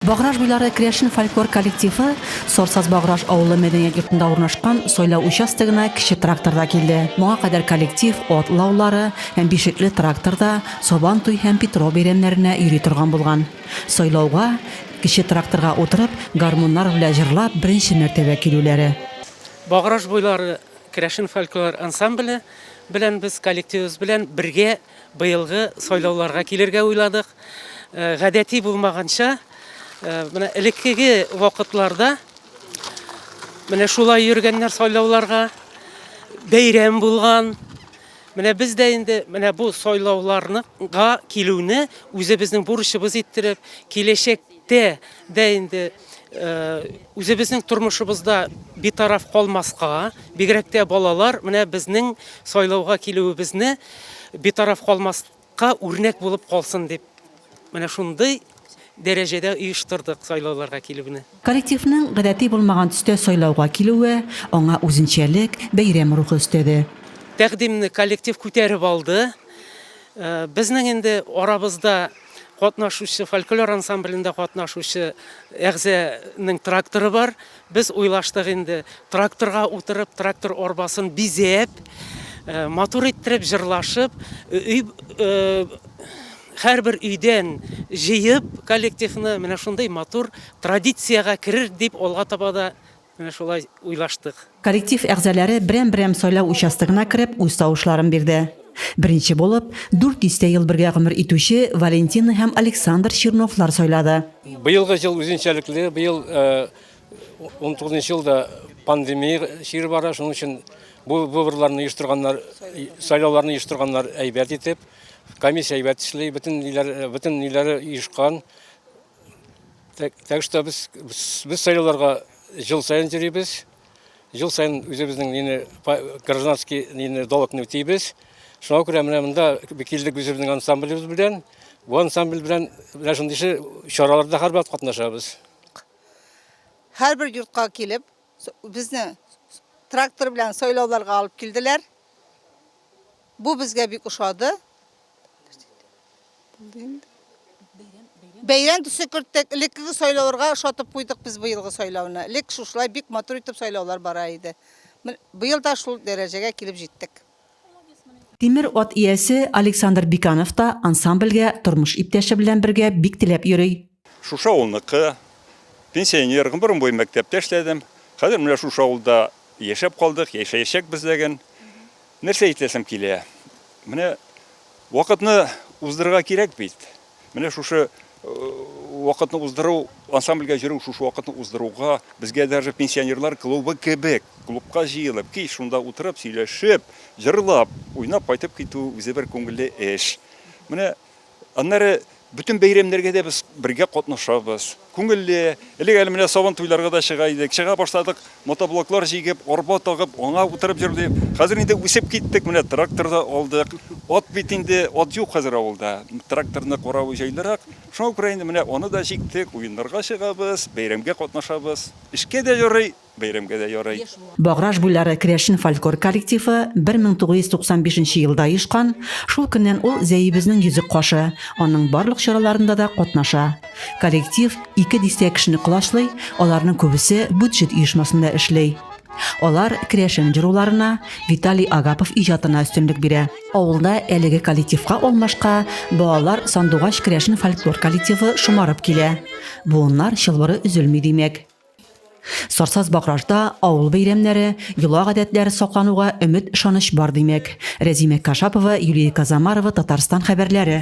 Баграж буйлары керәшен фольклор коллективы Сорсаз Баграж авылы мәдәният йортында урнашкан сайлау участогына кече тракторда килде. Моңа кадәр коллектив Ат лаулары һәм Бишекле тракторда Сабан туй һәм Питрау бәйрәмнәренә йөри торган булган. Сайлауга, кече тракторга утырып, гармуннар белә җырлап беренче мәртәбә килүләре. Баграж буйлары керәшен фольклор ансамбле белән без коллективыбыз белән бергә Быелгы сайлауларга килергә уйладык. Гадәти булмаганча, менә элеккеге вакытларда менә шулай йөргәннәр сайлауларга. Бәйрәм булган. Менә без дә инде менә бу сайлауларга килүне үзебезнең бурычыбыз иттереп, киләчәк Тә дә инде үзебезнең тормышыбызда битараф калмаска, бигрәк тә балалар менә безнең сайлауга килүебезне битараф калмаска үрнәк булып калсын дип, менә шундый дәрәҗәдә оештырдык сайлауларга килүне. Коллективның гадәти булмаган төстә сайлауга килүе аңа үзенчәлек, бәйрәм рухы өстәде. Тәкъдимне коллектив күтәреп алды. Безнең инде арабызда катнашучы, фольклор ансамблендә катнашучы әгъзәнең тракторы бар. Без уйлаштык инде, тракторга утырып, трактор арбасын бизәп, э, матур иттереп, җырлашып, өй э, һәрбер өйдән җыеп коллективны менә шундый матур традициягә керер дип алга таба да Менә шулай уйлаштык. Коллектив әгъзаләре берәм-берәм сайлау участогына кереп үз тавышларын бирде. Беренче булып, дүрт дистә ел бергә гомер итүче Валентина һәм Александр Черновлар сайлады. Быелгы ел үзенчәлекле, быел унтугызынчы ел да пандемия чире бара, шуның өчен бу выборларны оештырганнар, сайлауларны оештырганнар әйбәт итеп, комиссия әйбәт эшли, бөтен ниләре оешкан. Так, так что без, без сайлауларга жыл сайын йөрибез. Жыл сайын үзебезнең нине гражданский нине долгны үтибез. Шуңа күрә менә монда килдек үзебезнең ансамблебез белән. Бу ансамбль белән менә шундый чараларда һәрбат катнашабыз. Һәрбер йортка килеп, безне трактор белән сайлауларга алып килделәр. Бу безгә бик ошады. Бәйрәм төсе керттек. Элеккеге сайлауларга ошатып куйдык без быелгы сайлауны. Элек шушылай бик матур итеп сайлаулар бара иде. Быел да шул дәрәҗәгә килеп җиттек. Тимер ат иясе Александр Биканов та ансамбльгә тормыш иптәше белән бергә бик теләп йөри. Шушы авылныкы, пенсионер, гомерем буе мәктәптә эшләдем. Хәзер менә шушы авылда яшәп калдык, яшәячәкбез ләген. Нәрсә әйтәсем килә? Менә вакытны уздырырга кирәк бит. Менә шушы вакытны уздыру, ансамбльгә йөрү, шушы вакытны уздыруга безгә даже пенсионерлар клубы кебек клубка җыелып, кич шунда утырып, сөйләшеп, җырлап, уйнап кайтып китү үзе бер күңелле эш. Менә Аннары бөтен бәйрәмнәргә дә без бергә катнашабыз. Күңелле. Элек әле менә сабан туйларга да чыга идек. Чыга башладык, мотоблоклар җигеп, арба тагып, аңа утырып йөрдек. Хәзер инде үсеп киттек, менә трактор да алдык. Ат бит инде, ат юк хәзер авылда. Тракторны каравы җайлырак. Шуңа күрә инде менә аны да җиктек, уеннарга чыгабыз, бәйрәмгә катнашабыз. Эшкә дә ярый. Бәйрәмгә дә ярый. Баграж буйлары керәшен фольклор коллективы 1995 нче елда оешкан, шул көннән ул Зәебезнең йөзек кашы, аның барлык чараларында да катнаша. Коллектив ике дистә кешене колачлый, аларның күбесе бюджет оешмасында эшли. Алар керәшен җыруларына, Виталий Агапов иҗатына өстенлек бирә. Авылда әлеге коллективка алмашка балалар сандугач керәшен фольклор коллективы шомарып килә. Буыннар чылбыры өзелми, димәк. Сарсаз Багражда авыл бәйрәмнәре, йола-гадәтләре саклануга өмет-ышаныч бар, димәк. Рәзимә Кашапова, Юлия Казамарова, Татарстан хәбәрләре.